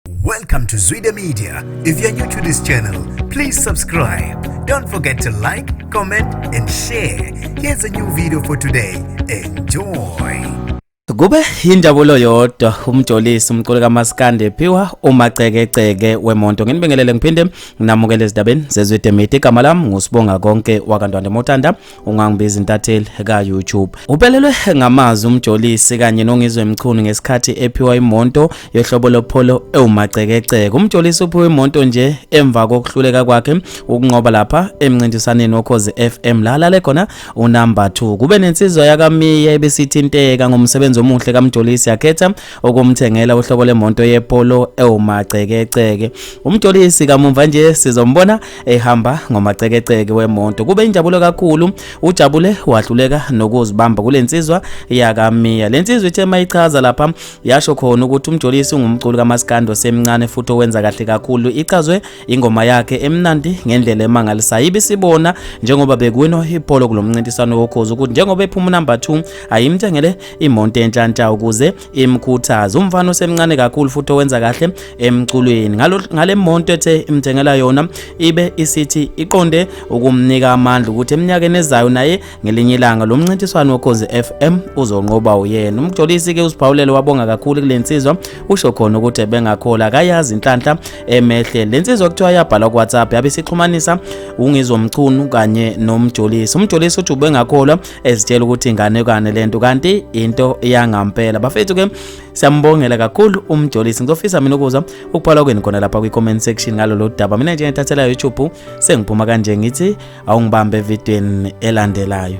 Welcome to Zwide Media. If you're new to this channel, please subscribe. Don't forget to like, comment and share. Here's a new video for today. Enjoy. Kube injabulo yodwa umjolisi umculi kaMaskande phiwa umacekeceke wemonto nginibingelele ngiphinde nginamukele ezidabeni zezwide media igama lami ngusibonga konke wakantwande motanda ungangibiza intatheli ka-youtube uphelelwe ngamazwi umjolisi kanye nongizwe mchunu ngesikhathi ephiwa imonto yohlobo lopholo ewumacekeceke umjolisi uphiwe imonto nje emva kokuhluleka kwakhe ukunqoba lapha emncintisaneni wokhozi fm la alale khona unumber 2 kube nensizwa yakamiya ebesithinteka ngomsebenzi omuhle kamjolisi yakhetha ukumthengela uhlobo lemonto yepolo ewumacekeceke umjolisi kamumva nje sizombona ehamba ngomacekeceke wemoto kube injabulo kakhulu ujabule wahluleka nokuzibamba kulensizwa yakamiya lensizwa ithe mayichaza lapha yasho khona ukuthi umjolisi ungumculi kamaskando semncane futhi owenza kahle kakhulu ichazwe ingoma yakhe emnandi ngendlela emangalisayo ibisibona njengoba bekuwino ipolo kulomncintiswano wokhozi ukuthi njengoba ephuma number 2 ayimthengele imonto enhlanhla ukuze imkhuthaza umfana osemncane kakhulu futhi owenza kahle emculweni ngale monto ethe imthengela yona ibe isithi iqonde ukumnika amandla ukuthi eminyakeni ezayo naye ngelinye ilanga lo mncintiswano wokhozi FM uzonqoba uyena umjolisi ke usiphawulele wabonga kakhulu kule nsizwa usho khona ukuthi ebengakhola akayazi inhlanhla emehle le nsizwa kuthiwa yabhala ku-whatsapp yabe isixhumanisa ungizomchunu kanye nomjolisi umjolisi uthi ubengakholwa ezitshela ukuthi inganekwane lento kanti into yangampela bafethu ke siyambongela kakhulu umjolisi ngizofisa mina ukuza ukuphala kwenu khona lapha kwi comment section ngalolu daba mina nje ngithathela YouTube sengiphuma kanje ngithi awungibambe evidweni elandelayo